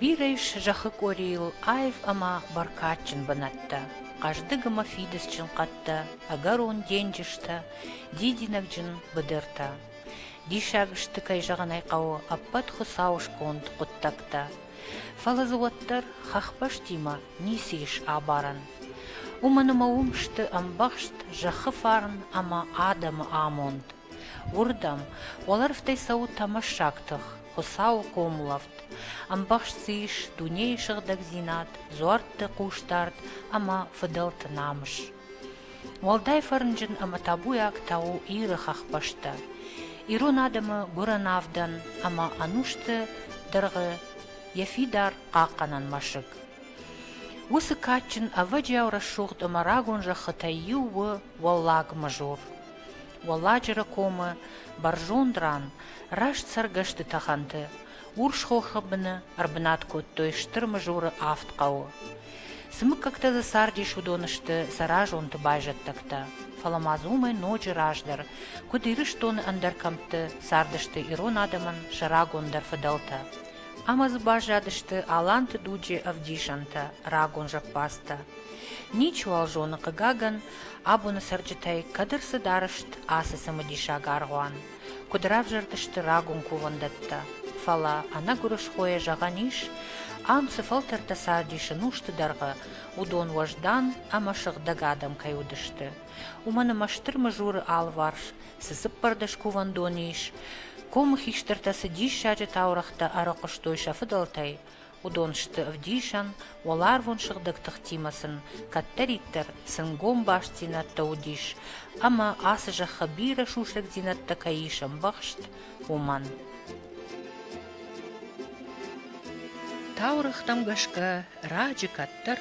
Бирӕ ис зӕххы къорийыл аив ӕмӕ бӕркадджын бынӕттӕ, хъӕздыг ӕмӕ фидыцджын хъӕдтӕ, ӕгӕрон денджызтӕ, дидинӕгджын быдыртӕ. Диссаг сты, кӕй зӕгъын ӕй хъӕуы, ӕппӕт Хуыцауы сконд хъуыддӕгтӕ. Фӕлӕ дзы уӕддӕр хӕхбӕстимӕ Ницы ис абарӕн, уымӕн ӕмӕ уым сты ӕмбӕхст зӕххы фарн ӕмӕ адӕмы амонд. Уырдӕм, уӕлӕрвтӕй цӕуы тӕмӕссаг тых, Хуыцауы хъомылӕфт, ӕмбӕхст дзы ис дунейы сыгъдӕгдзинад, дзуӕртты хъусдард ӕмӕ фыдӕлты намыс. Уӕлдай фӕрнджын ӕмӕ табуйаг та у Иры хӕхбӕстӕ. Ирон адӕмы гуырӕн авдӕн ӕмӕ ӕнусты дыргъы йӕ фидар хъахъхъӕнӕн мӕсыг. Уыцы кадджын, ӕвӕджиау рӕсугъд ӕмӕ рагон зӕххытӕй иу у Уӕллаг Мажор. Уӕлладжыры комы бӕрзонд ран, раст цӕргӕсты тӕхӕнты, урс хохы быны ӕрбынат кодтой Стыр Мажоры авд хъӕуы. Цы мыггӕгтӕ дзы цардис, уыдон сты сӕ разонты байзӕддӕгтӕ. Фӕлӕ ма дзы уымӕй ноджы раздӕр, куыд Ирыстоны ӕндӕр кӕмтты цардысты ирон адӕмӕн сӕ рагондӕр фыдӕлтӕ. Ӕмӕ дзы баззадысты аланты дуджы ӕвдисӕнтӕ, рагон зӕппӕдзтӕ. Ничиуал зоны, хъыгагӕн, абоны цӕрджытӕй кӕд ӕрцыд арызт ацы цымыдисаг аргъуан, куыд равзӕрдысты рагон кувӕндӕттӕ, фӕлӕ ӕнӕгуырысхойӕ зӕгъӕн ис, ам цы фӕлтӕртӕ цардис ӕнусты дӕргъы, уыдон уӕздан ӕмӕ сыгъдӕг адӕм кӕй уыдысты, Уымӕн ӕмӕ Стыр Мызуры алыварс цы цыппӕрдӕс кувӕндоны ис, комы хистӕртӕ цы диссаджы таурӕгътӕ ӕрыхъуыстой сӕ фыдӕлтӕй, уыдон сты ӕвдисӕн, уӕларвон сыгъдӕг тыхтимӕ сын кӕддӕриддӕр сӕнгом бастдзинӕдтӕ уыдис ӕмӕ ацы зӕххы бирӕ сусӕгдзинӕдтӕ кӕй ис ӕмбӕхст, уымӕн. Таурӕгътӕм гӕсгӕ, раджы кӕддӕр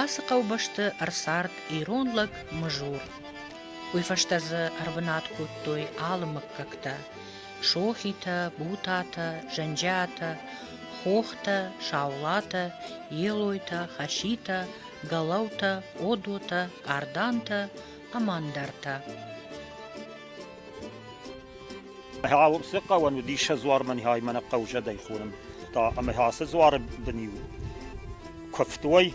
ацы хъӕубӕсты ӕрцард ирон лӕг Мызур. Уый фӕстӕ дзы ӕрбынат кодтой алы мыггӕгтӕ – сохитӕ, бутатӕ, зӕнджиатӕ, хохтӕ, саулатӕ, елойтӕ, хаситӕ, галаутӕ, одотӕ, къардантӕ ӕмӕ ӕндӕртӕ. Ацы хъӕуӕн уыдис сӕ дзуар мӕнхӕй мӕнӕ хъӕузӕдӕй хонын. Та ӕмӕ ацы дзуары бын-иу куывтой,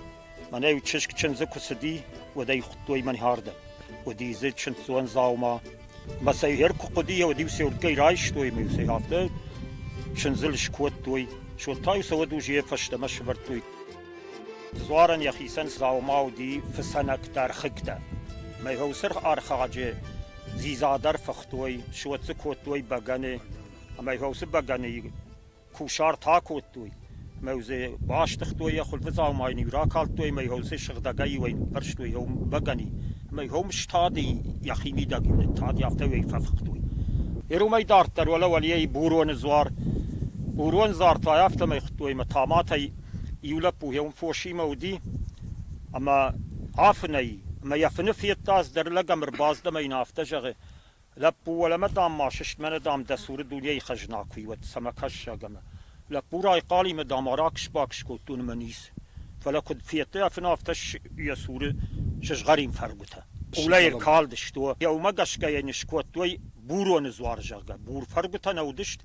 мӕнӕ-иу чызг чындзы куы цыди, уӕд ӕй хуыдтой мӕнхӕрдӕг. Уыди дзы чындздзон дзаума. Мӕ сӕ хӕр куы хъуыди, уӕд-иу сӕ уырдгӕй райстой, мӕ-иу сӕ афтӕ чындзыл скодтой. Сод та-иу сӕ уадуз йӕ фӕстӕмӕ сывӕрдтой. Дзуарӕн йӕхицӕн дзаума уыди фыцӕнӕгдӕр хыгтӕ. Мӕйгъуылсырх ӕрхӕджы дзидзадар фыхтой, суӕтдзы кодтой бӕгӕны, мӕйгъуылсы бӕгӕны кусарт акодтой, мӕ дзы бастыгътой йӕ хуылфы дзаумайын-иу ракалдтой, мӕйгъуылсы сыгъдӕгӕй-иуӕй ныппӕрстой йӕ бӕгӕни, мӕйгъуылм стады йӕхи мидӕг-иу ныттад, афтӕ-иу ӕй фӕфыхтой. Йӕ уымӕй дарддӕр уӕлӕ Уӕлейӕйы Буроны дзуар, Бурон дзартӕй афтӕмӕй хуыдтой ӕмӕ таматӕй Иу лӕппу йӕ уым фосимӕ уыди, ӕмӕ афынӕй, ӕмӕ йӕ фыны федта, ӕз дӕр лӕг ӕм ӕрбаздӕн ӕмӕ йын афтӕ зӕгъы, Лӕппу, уӕлӕмӕ, дам, ма сыстмӕнӕ, дам, дӕ цуры дунейы хӕзна куы и, уӕд цӕмӕ кӕссаг ӕмӕ. Лӕппу райхъал ӕмӕ, дам, аракс-бакс кодтон ӕмӕ ниц. Фӕлӕ куыд федтай, афын афтӕ йӕ цуры сызгъӕрин фӕргуытӕ. Хъулӕй ӕркалдысты, уӕ уымӕ гӕсгӕ йӕ не скодтой буроны дзуар, зӕгъгӕ. Бур фӕргуытӕ нӕ уыдысты,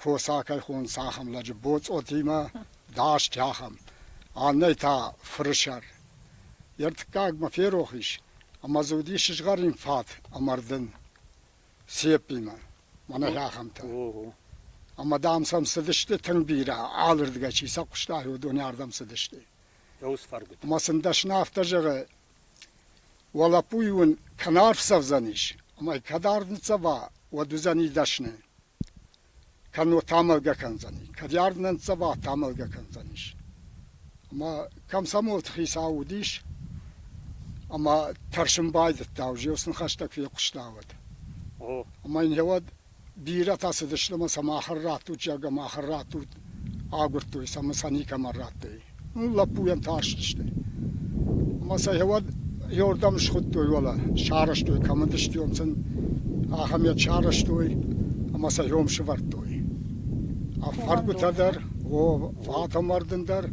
фосакӕхон цахӕм лӕджы боцъотимӕ даст, ахӕм. Аннӕ та фырсӕр. Йе ртыккагмӕ ферох ис, ӕмӕ дзы уыди сызгъӕрин фат ӕмӕ рдын. Сеппимӕ, мӕнӕ ахӕмтӕ. Ӕмӕ, дам, сӕм цыдысты тынг бирӕ, алырдгӕй чи сӕ хъуыста, уыдоны ардӕм цыдысты. Ӕмӕ сын дӕсны афтӕ зӕгъы, уӕ лӕппуйы уын кӕн арф цӕвдзӕнис, ӕмӕ кӕд арв ныццӕва, уӕд уыдзӕни дӕсны. кӕннод тамӕлгӕ кӕндзӕни, кӕд ард нӕ ныццӕва, тамӕлгӕ кӕндзӕнис. Ӕмӕ комсомолты хицау уыдис, ӕмӕ тӕрсын байдыдта, уже йыл сын хӕстӕг фехъуыста уӕд. Ӕмӕ йын гъеуӕд бирӕтӕ цыдысты ӕмӕ сӕ махӕн раттут, зӕгъгӕ, махӕн раттут, агуырдтой сӕ ӕмӕ сӕ никӕмӕн радтой. Лӕппуйӕн тарстысты ӕмӕ сӕ уӕд иуырдӕм схуыдтой уӕлӕ, сарӕзтой, кӕм уыдыстӕм сын, ахӕм йӕ сарӕзтой ӕмӕ сӕ иом сывӕрдтой. Фӕргуытӕ дӕр, о, фатӕмӕрдын дӕр,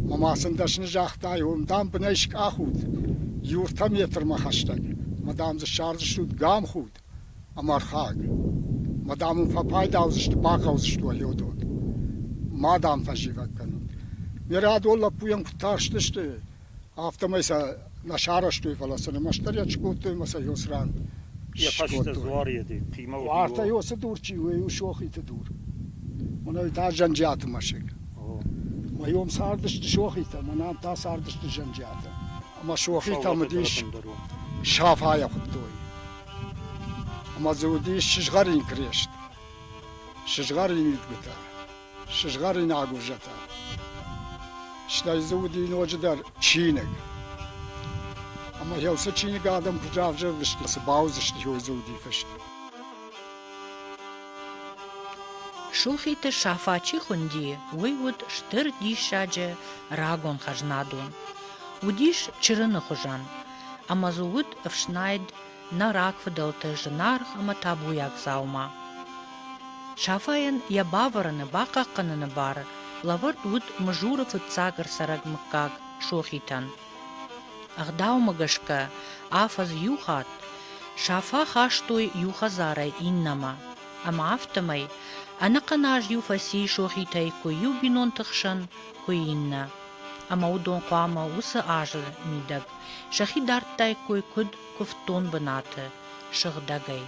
мӕ ма сын дӕсны загътай, уым, дам, бынӕй скъахут, иутӕ метрмӕ хӕстӕг, ӕмӕ, дам, дзы ссардзыстут гамхуд. Ӕмархаг, мадам уын фӕпайда уыдзысты, бахъӕудзысты уӕ лёдот. Ма, дам, фӕзивӕг кӕнут. Ме рӕдон лӕппуйӕн куыд тарстысты, афтӕмӕй сӕ нӕ сарӕзтой, фӕлӕ сын ӕмӕстдӕр йӕ скодтой ӕмӕ сӕ ёс ран йӕ фӕстӕ скодтой. дзуар йеди хъимӕ уыд. Уартӕ ёсы дур чи у, у Сохъиты дур. Уынӕй та Зӕнджиаты мӕсыг. О. Мӕ ном цардысты Сохъитӕ, мӕ ном та цардысты Зӕнджиатӕ. Ӕмӕ сохитӕм уыдис Сафайӕ хуыдтой. Ӕмӕ дзы уыдис сызгъӕрин крест, сызгъӕрин идгуытӕ, сызгъӕрин агурзӕтӕ. Стӕй дзы уыди ноджыдӕр чиныг. Ӕмӕ йӕ уыцы чиныг адӕм куыд равзӕрдысты, цы бауыдзысты, уый дзы уыди фыст. Сухиты Сафа чи хуынди, уый уыд стыр диссаджы рагон хӕзнадон. Уыдис чырыны хуызӕн, ӕмӕ дзы уыд ӕфснайд нӕ рагфыдӕлты зынаргъ ӕмӕ табуйаг дзаума. Сафайӕн йӕ бавӕрыны, бахъахъхъӕныны бар лӕвӕрд уыд мызуры фыццаг ӕрцӕрӕг мыггаг Сохитӕн. Ӕгъдаумӕ гӕсгӕ афӕдз иу хатт Сафа хастой иу хӕдзарӕй иннӕмӕ, ӕмӕ афтӕмӕй ӕнӕхъӕн аз иу фӕци сохитӕй куы иу бинонты хсӕн, куы иннӕ. Ӕмӕ уыдон хъуамӕ уыцы азы мидӕг сӕхи дардтаиккой куыд куывддон бынаты, сыгъдӕгӕй.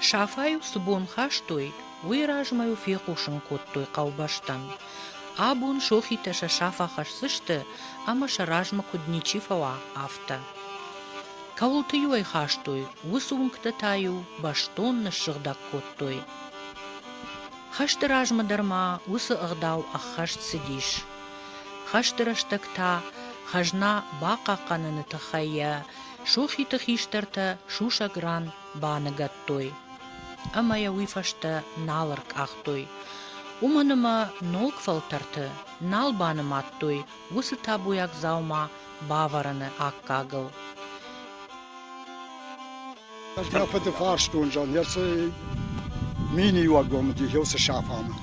Сафа-иу цы бон хастой, уый размӕ-иу фехъусын кодтой хъӕубӕстӕн. Абон сохитӕ сӕ саф ахӕсдзысты ӕмӕ сӕ размӕ куыд ничи фӕуа, афтӕ. Кӕуылты-иу ӕй хастой, уыцы уынгтӕ та-иу бӕстон ныссыгъдӕг кодтой. Хӕсты размӕ дӕр ма уыцы ӕгъдау ӕххӕст цыдис. Хӕсты рӕстӕг та хӕзна бахъахъхъӕныны тыххӕй йӕ сохиты хистӕртӕ сусӕг ран баныгӕдтой ӕмӕ йӕ уый фӕстӕ нал ӕркъахтой. Уымӕн ӕмӕ ног фӕлтӕрты нал банымадтой уыцы табуйаг дзаума бавӕрыны аккагыл. Мӕ фыды фарстон зӕгъын, цы миниуӕггомы дих цы сафамы.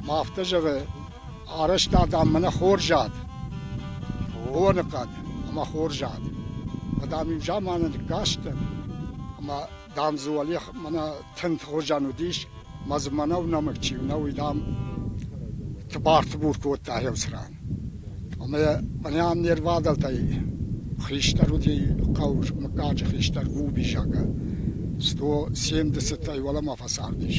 Ма афтӕ зӕгъы, Арӕзтад ам мӕнӕ хорз ад, боныхъӕд ӕмӕ хорз ад. Дам-иу заманы кастӕн, ӕмӕ, дам, дзы уӕле мӕнӕ тынт хуызӕн уыдис, ӕмӕ дзы мӕнӕу нӕмыг чи у, нӕу, дам, тыбар-тыбур кодта еуцран. Ӕмӕ мӕнӕн не рвадӕлтӕй хистӕр уыди хъӕу Мыггаджы хистӕр Губизагӕ. Сто семдесӕтӕй уӕлӕмӕ фӕцардис.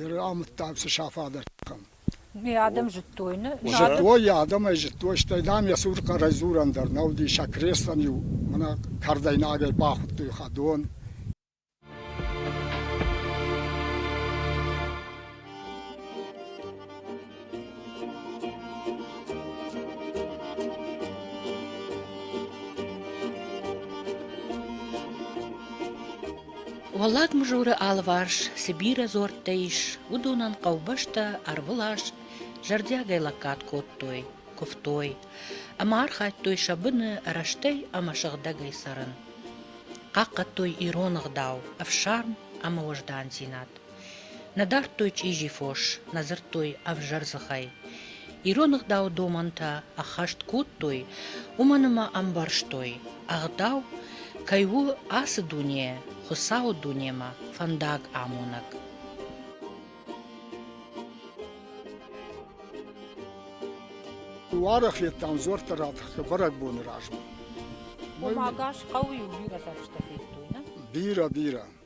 Иры амыддаг цы саф адӕттӕм. Йӕ адӕм зыдтой, нӕ? Зыдтой, йӕ адӕмӕй зыдтой, стӕй, дам, йӕ цур хъӕрӕй дзурӕн дӕр нӕ уыди, сӕ крестӕн-иу мӕнӕ кардӕй нагӕй бахуыдтой хӕдон. Уӕллаг Мызуры алыварс цы бирӕ дзуӕрттӕ ис, уыдонӕн хъӕубӕстӕ ӕрвылаз зӕрдиагӕй лӕггад кодтой, куывтой ӕмӕ архайдтой сӕ быны рӕстӕй ӕмӕ сыгъдӕгӕй цӕрын. Хъахъхъӕдтой ирон ӕгъдау, ӕфсарм ӕмӕ уӕздандзинад. Нӕ дардтой чъизи фос, нӕ дзырдтой ӕвзӕр дзыхӕй. Ирон ӕгъдау домӕнтӕ ӕххӕст кодтой, уымӕн ӕмӕ ӕмбӕрстой, ӕгъдау кӕй у ацы дуне, Хуыцауы дунемӕ фӕндаг амонӕг. Уӕрӕхлеттӕ ӕмдзуӕрттӕ ратахтӕ бӕрӕгбоны размӕ. Уымӕ гӕс хъӕуы иу бирӕ фӕрстӕ федтой, нӕ? Бирӕ, бирӕ.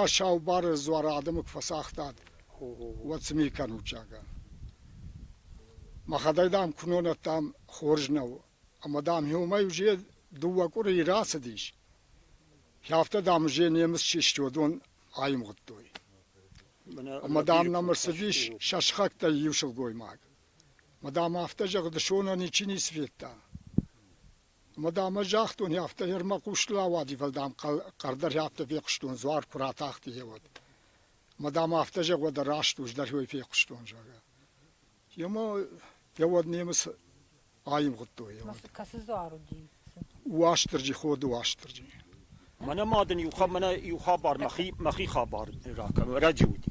Ӕ саубары дзуары адӕмы куы фӕцагътат, уӕд цы ми кӕнут, зӕгъгӕ. Мӕхӕдӕг, дам, куынонӕт, дам, хорз нӕу. Ӕмӕ, дам, иумӕ Узе дыууӕ къуырийы рацыдис. Афтӕ, дам, Узе немыц чи стӕдон аивгъуыдтой. Ӕмӕ, дам, нӕм ӕрцыдис сӕ сыхӕгтӕй иу сылгоймаг. Ӕмӕ, дам, афтӕ зӕгъы, дысонӕн ничи ницы федта. Ӕма дӕмӕ загътон, афтӕ Ермӕ хъустыл ауади, фал дӕм хъӕрдӕрхӕптӕ фехъустон, дзуар ку ратахти, е уӕд. Ма дӕм афтӕ зӕгъ, уӕдӕ раст ус дӕр ӕй фехъустон, зӕгъгӕ. Ема е уӕд немец аивгъудтой. Е уӕд. Кӕцы дзуар уыди? Уастырджи, Ходы Уастырджи. Мӕнӕ ма дын иу, мӕнӕ иу хабар, мӕхи, мӕхи хабар ракӕнон. Раджы уыди.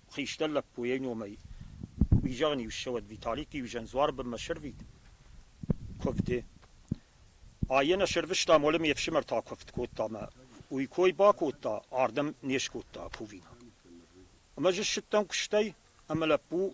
хистӕр лӕппуйӕй номӕй. Уый зӕгъын-иу ссӕуӕд, Виталикы-иу зӕндзуар бынмӕ сӕрвит куывды. Айӕ нӕ сӕрвыста, молы ме фсымӕр та куывд кодта мӕ уый кой бакодта, ардӕм не скодта кувинаг. Ӕмӕ ӕз ссыдтӕн куыстӕй, ӕмӕ лӕппу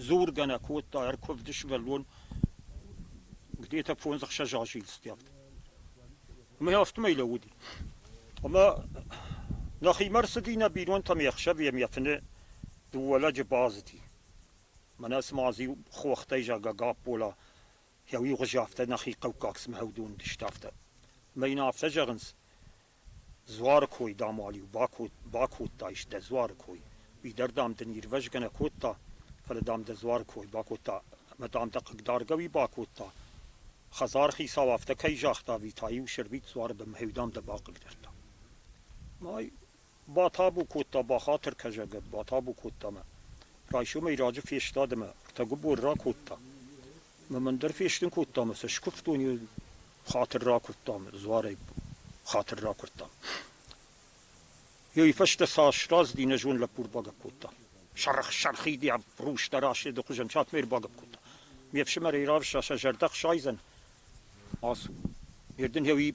Дзоргӕ нӕ кодта, ӕркувд сывӕллон, где-то фондзӕхсӕз азы йыл стӕвд. Ӕмӕ афтӕмӕй лӕууыди. Ӕмӕ нӕхимӕ рцыди нӕ бинонтӕм йе хсӕвы, йӕм йӕ фыны дыууӕ лӕджы базыди. Мӕнӕ цыма иу хохтӕй, зӕгъгӕ, Гаппола йӕ иу гъуызы афтӕ нӕхи хъӕуккаг цымӕ уыдон уыдысты афтӕ. Ӕмӕ йын афтӕ зӕгъынц, Дзуары кой, дам-уал-иу бакодтаис дӕ дзуары кой, уый дӕр, дам, дын ирвӕзгӕ нӕ кодта, фӕлӕ, дам, дӕ дзуары кой бакодта ӕмӕ, дам, дӕ хъыгдаргӕ уый бакодта. Хӕдзархицау афтӕ кӕй загъта ӕви та-иу Сӕрбит дзуары бын мӕхиуыл, дам, дӕ бахъыгдардта. Май батабу кодта бахатыр кӕсагӕп, батабу кодта мӕ. Райсомӕй раджы фестад ӕмӕ Тӕгубор ракодта. Ӕмӕ мӕн дӕр фестын кодта ӕмӕ сӕ скуывтон йӕ хатыр ракуырдтам, дзуарӕй хатыр ракуырдтам. Йой фӕстӕ сӕ сразы дин зон лӕппу ӕрбагӕпп кодта. Сарх сархиди ӕбрустӕ раседы хуызӕн сатмӕ ӕрбагӕпп кодта. Ме фсымӕрӕй равзса сӕ зӕрдӕ хсайдзӕн. Ацу, ме дын йеуи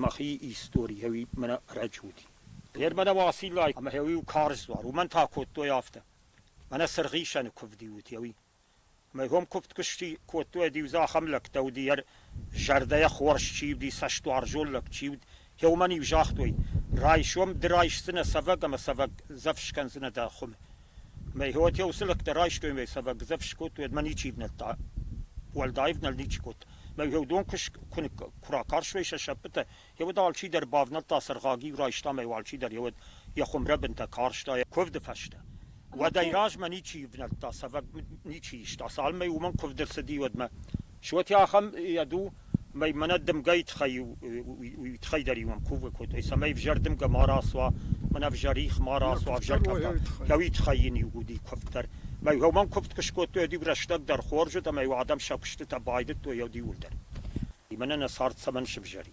мӕхи истори, йеуи мӕнӕ рӕджуди. Нер мӕнӕ Уасиллай ӕма йеуи карз дзуар, уымӕн та кодтой афтӕ. Мӕнӕ сыргъисӕны кувди ут, йеуи Мӕ гом куывд куы сси, кодтой-ӕд-иу дзы ахӕм лӕгтӕ уыди, йӕ зӕрдӕйӕ хорз чи уыди, цӕстуарзон лӕг чи уыд, йӕ уымӕн-иу загътой: «Райсом ды райсдзынӕ цӕвӕг ӕмӕ цӕвӕг дзӕф скӕндзынӕ дӕ хуым». Мӕ хоте уыцы лӕгтӕ райстой мӕ цӕвӕг дзӕф скодтой, уӕд мӕ ничи ӕвнӕлдта. Уӕлдай ӕвнӕлд ничи кодта. Мӕ уыдон куы ракарстой сӕ сӕппытӕ, Еуд алчидӕр бавнӕлдта сыргъаги, райста ӕма алчидӕр еуд йе хумрӕбинтӕ карста йе кувды фӕстӕ. Уӕдӕй размӕ ничи ивнӕлдта, цӕвӕг ничи иста, цалмӕй уымӕн кувд ӕрцыди уӕдмӕ. Суоти ахӕм ӕду, мӕй мӕнӕ дымгӕйы тыххӕй уый тыххӕй дӕр иуӕн кувгӕ кодтой, цӕмӕй ӕвзӕр дымгӕ ма рацуа, мӕнӕ ӕвзӕр их ма рацуа, ӕвзӕр дӕуи тыххӕй йын иу уыди куывд дӕр. Мӕй уымӕн куывд куы скодтой, ӕд-иу рӕстӕг дӕр хорз уыд ӕмӕ-иу адӕм сӕ куыстытӕ байдыдтой ӕд иууылдӕр. Мӕнӕ нӕ цард цӕмӕн сывзӕри?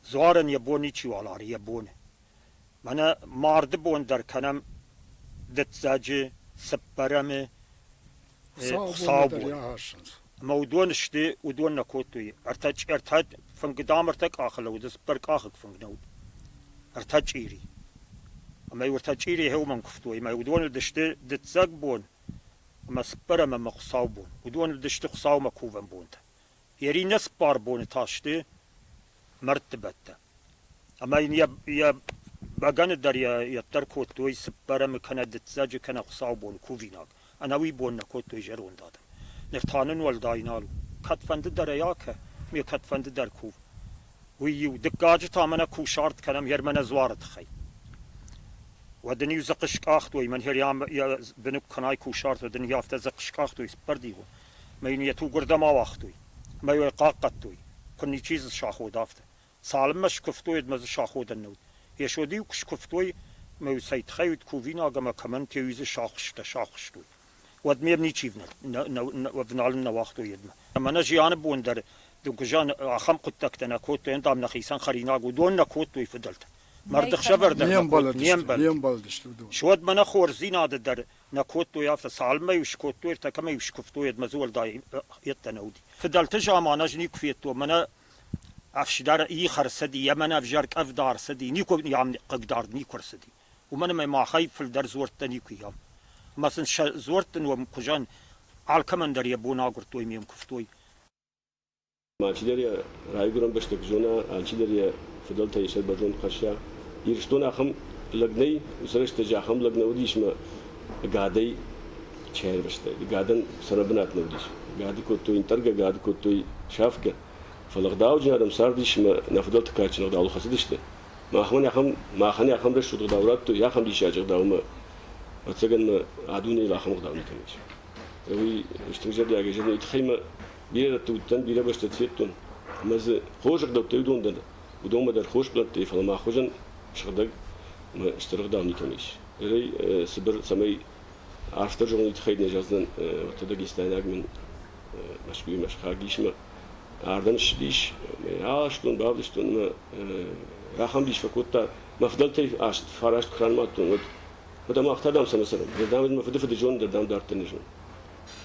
Дзуарӕн йӕ бон ничиуал ары, йӕ бон. Мӕнӕ марды бон дӕр кӕнӕм дыццӕджы, цыппӕрӕмы, хуыцаубон. Ӕмӕ уыдон сты, уыдон нӕ кодтой. Ӕртӕ ӕртӕ фынг, дам, ӕртӕ къахы лӕууыд, цыппӕр къахыг фынг нӕ уыд. Ӕртӕ чъири. Ӕмӕ уыртӕ чъири иуӕм куывтой, ӕмӕ уыдон уыдысты дыццӕг бон ӕмӕ цыппӕрӕм ӕмӕ хуыцаубон. Уыдон уыдысты хуыцаумӕ кувӕн бонтӕ. Йӕ иннӕ цыппар боны та сты мӕрдтыбӕттӕ. Ӕмӕ йын йӕ бӕгӕны дӕр йӕддӕр кодтой цыппӕрӕмы кӕнӕ дыццӕджы кӕнӕ хуыцаубоны кувинаг. Ӕнӕуый бон нӕ кодтой зӕронд адӕм. Ныр та нын уӕлдай нал у. Кӕдфӕнды дӕр ӕй акӕ, ме кӕдфӕнды дӕр кув. Уый-иу дыккаджы та мӕнӕ кусарт кӕнӕм Хермӕнӕ дзуары тыххӕй. Уӕд ын-иу дзыхъы скъахтой, мӕн Хер йӕ бынук кӕнай кусарт, уӕд ын-иу афтӕ дзыхъы скъахтой цыппӕрдигъон. мӕ йын йӕ тугуырдӕм ауагътой мӕ йӕ хъахъхъӕдтой, куы ничи дзы саходы, афтӕ. Цалынмӕ скуывтой, уӕдмӕ дзы саходӕн нӕ уыд. Йесо-иу куы скуывтой, ӕмӕ-иу цӕй тыххӕй уыд кувинаг ӕмӕ кӕмӕн те-иу дзы сӕхуыстӕ сӕхуыстой, уӕдмӕ йӕм ничи ӕвналын нӕ уагътой йедмӕ. Ӕмӕ нӕ зианы бон дӕр дыггуызӕн ахӕм хъуыддӕгтӕ нӕ кодтой, дам, нӕхицӕн хӕринаг уыдон нӕ кодтой фыдӕлтӕ. Марды хсӕвӕр дӕр нӕ кодтой, не мбӕлдысты, уыдон. Суӕдмӕ нӕ хорздзинады дӕр Нӕ кодтой афтӕ, цалынмӕ-иу скодтой, ӕртӕ кӕмӕ-иу скуывтой, уӕдмӕ дзы уӕлдай йеддӕ нӕ уыди. Фыдӕлты заман ӕз никуы федтон, мӕнӕ ӕфсидар их ӕрцыди, йӕ мӕнӕ ӕвзӕр къӕвда ӕрцыди, никуы йӕм хъыгдард никуы ӕрцыди. Уымӕн ӕмӕ махӕй фылдӕр дзуӕрттӕ никуы ам. Ӕмӕ сын сӕ дзуӕртты ном хуызӕн алкӕмӕн дӕр йӕ бон агуырдтой ме мкуывтой. Алчидӕр йӕ райгуырӕн бӕстӕг зона, алчидӕр йӕ фыдӕлтӕй сӕ бӕрнон хӕсса. Ирыстон ахӕм лӕг нӕй, уыцы рӕстӕджы ахӕм лӕг нӕ уыдис ӕмӕ гӕдӕй чи ӕрвыстой. Гӕдӕн сӕрӕбынат нӕ уыдис. Гӕды кодтой ӕнтъӕргӕ, гӕды кодтой сафгӕ. Фӕлӕ гъдауджын адӕм цардис ӕмӕ нӕ фыдӕлты кадджын ӕгъдауыл хӕцыдысты. Махмӕ ахӕм, махӕн ахӕм рӕсугъд ӕгъдау радтой, ахӕм диссаджы ӕгъдау ӕмӕ, ӕвӕццӕгӕн, мӕ а дунейыл ахӕм ӕгъдау никӕм ис. Уый стыр зӕрдиагӕй зӕгъын, уый тыххӕй мӕ Бирӕты уыдтӕн, бирӕ бӕстӕты федтон, ӕмӕ дзы хорз ӕгъдӕуттӕ уыдон дӕр, уыдонмӕ дӕр хорз бынӕттӕ и, фӕлӕ мӕ хуызӕн сыгъдӕг ӕмӕ стыр ӕгъдау никӕмӕ ис. Зӕгъӕй, цыбыр, цӕмӕй автор зоныгъуыйы тыххӕй нӕ зӕгъдзынӕн, уӕдта дагестайнаг мын Мӕскуыимӕ схаг ис ӕмӕ ардӕм ссыдис, ӕмӕ аст дон бавдыстон ӕмӕ ахӕм дис фӕкодта, мӕ фыдӕлтӕй аст фараст куы ранымадтон, уӕд, уӕд ӕмӕ ахта, дам, сӕ нӕ цӕрӕм. Дам, мӕ фыды фыдызонд дӕр, дам, дарддӕр не зыны.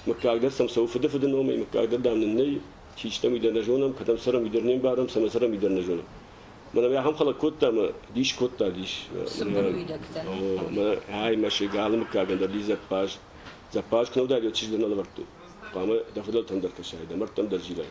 Мыггагдӕр сӕм цӕуы фыдыфыды номӕй, мыггагдӕр, дам, нын нӕй, чи стӕм, уый дӕр нӕ зонӕм, кӕдӕм цӕрӕм, уый дӕр не мбарӕм, цӕмӕ цӕрӕм, уый дӕр нӕ зонӕм. Мӕнӕ мӕ ахӕм хӕлӕг кодта ӕмӕ дис кодта, дис. Цыбыр уидӕгтӕ. Ӕй, мӕсыг, алы мыггагӕн дӕр ди дзӕппаз. Дзӕппаз куы нӕ уыдаид, уӕд чызг дӕр нӕ лӕвӕрдтой. Хъуамӕ дӕ фыдӕлтӕн дӕр кӕсай, дӕ мӕрдтӕм дӕр зилай.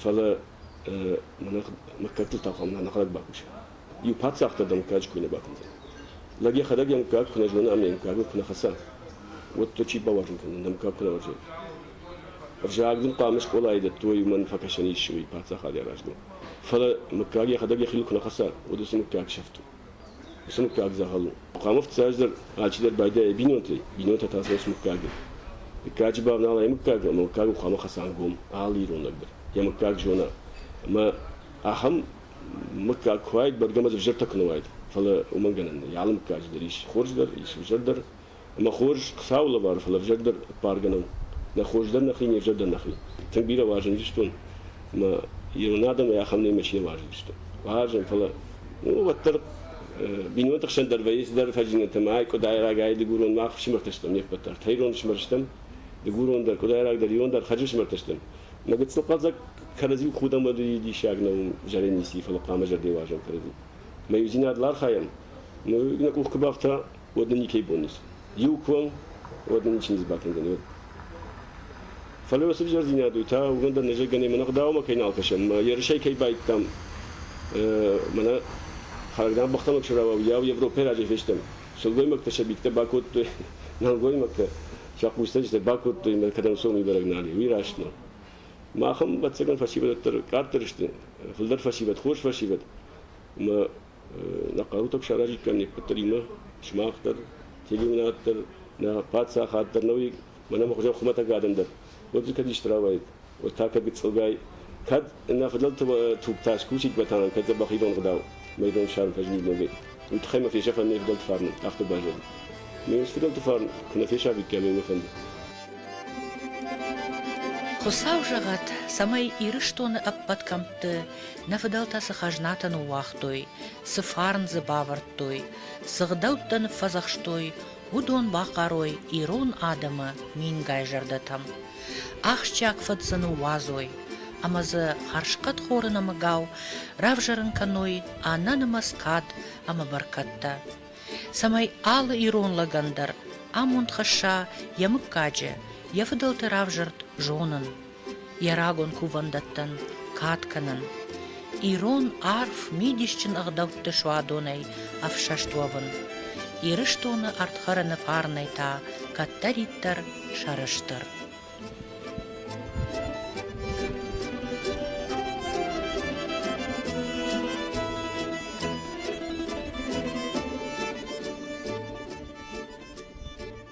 Фӕлӕ мыггӕгтыл та хъуамӕ нӕхӕдӕг бакусӕм. Иу паддзахдӕр дӕ мыггаджы куы нӕ бакундзӕн, лӕг йӕхӕдӕг йӕ мыггаг куы нӕ зоны ӕмӕ йӕ мыггагыл куы нӕ хӕца, уӕд дӕ чи бауарзын кӕндзӕн, дӕ мыггаг куы нӕ уарзай? Ӕвзаг дын хъуамӕ скъолайы дӕттой, уымӕн фӕкӕсӕн ис уый паддзахады аразыныл. Фӕлӕ мыггаг йӕхӕдӕг йӕхиуыл куы нӕ хӕца, уӕд уыцы мыггаг сӕфт у. Уыцы мыггаг дзӕгъӕл у. Хъуамӕ фыццаздӕр алчидӕр байдайа йӕ бинонтӕй, бинонтӕ та сынц мыггагӕн. Дыккаджы бавнала йӕ мыггаг, ӕмӕ мыггаг у хъуамӕ хӕцӕнгом алы иронаг дӕр. Йӕ мыггаг зона. Ӕмӕ ахӕм мыггаг куы уайд, бӕргӕ ма дзы взӕртӕ куы нӕ уайд. Фӕлӕ уымӕн гӕнӕн нӕй. Алы мыггаджы дӕр ис хорз дӕр, ис ӕвзӕр дӕр. Мӕ хорз Хуыцауы лӕвар, фӕлӕ взаг дӕр ппаргӕнӕн нӕ хорз дӕр нӕхи, не взаг дӕр нӕхи. Тынг бирӕ уарзындзыстон мӕ ирон адӕмӕй ахӕм нӕмӕ чи нӕ уарзыдзыстӕм. Уарзын, фӕлӕ уӕддӕр бинонты хсӕн дӕр вӕййы цыдӕр фӕзинӕтӕ. Мӕ дыгурон рагӕй мах фсымӕртӕ стӕм, не ппӕт дӕр тӕйрон фсымӕр стӕм, дыгурон дӕр, къуыдайрагдӕр, ирон дӕр хӕрзы фсымӕртӕ стӕм. Мӕ гыццыл хъӕлдзӕг кӕрӕдзиу худӕмӕдуи диссаг нӕу зӕрӕн ници, фӕлӕ хъуамӕ зӕрдӕ уарзӕм кӕрӕдзи. Мӕ иудзинад ыл архайӕм. Нӕ къух куы бафта, уӕд нӕ никӕй бон ис. Иу куы уӕм, уӕд нӕ ничи не сбакӕндзӕн. Уӕд. Фӕлӕ уыцы взӕрдзинад у та уымӕн дӕр нӕзӕггӕнӕй мӕнӕ гъдауымӕ кӕй нал кӕсӕм, мӕ ерысӕй кӕй баидтам, мӕнӕ Харагдан бӕхтӕмӕ куы рауа, уыйау Европӕйы раджӕй фестӕм. Сылгоймӕгтӕ сӕ битӕ бакодтой, нӕлгоймӕгтӕ сӕ хъусцӕджытӕ бакодтой мӕ кӕдӕм сомы бӕрӕг нал и, уый раст нӕу. Махӕн, ӕвӕццӕгӕн, фӕсивӕддӕр къаддӕр сты, фылдӕр фӕсивӕд, хорз фӕсивӕд, ӕмӕ Нӕ хъӕутӕм саразиккам не ппӕтдӕримӕ сымах дӕр, телеуынад дӕр, нӕ паддзахад дӕр, нӕуи мӕнӕ мӕ хуызӕн хуымӕтӕг адӕм дӕр, уӕд дзы кӕд исты рауайд, уӕд та кӕд гыццылгай, кӕд нӕ фыдӕлты тугтас кусиккатӕн, кӕд дзӕбӕх ирон гъдау майдан ссарын фӕзынид ногӕй, уый тыххӕй мӕ фесӕфӕм не фыдӕлты фарн, афтӕ базонын. Ме фыдӕлты фарн куы нӕ фесафиккам ӕмӕ мӕ фӕнды. Хуыцау зӕгъӕт, цӕмӕй Ирыстоны ӕппӕт кӕмтты Нӕ фыдӕлтӕ цы хӕзнатӕ ныууагътой, цы фарн дзы бавӕрдтой, цы гъдӕуттӕ ныффӕдзӕхстой, уыдон бахъарой ирон адӕмы мингай зӕрдӕтӕм. Ахсджиаг фыд дзы ныууадзой, ӕмӕ дзы хӕрзхъӕдхоры нӕмыгау равзӕрын кӕной ӕнӕнымӕц кад ӕмӕ бӕркӕдтӕ, цӕмӕй алы ирон лӕгӕн дӕр амонд хӕсса йӕ мыггаджы, йӕ фыдӕлты равзӕрд зонын, Йӕ рагон кувӕндӕттӕн кад кӕнын, ирон арф мидисджын ӕгъдӕутты суадонӕй ӕфсӕст уӕвын, Ирыстоны ӕрдхӕрыны фарнӕй та кӕддӕриддӕр сӕрыстыр.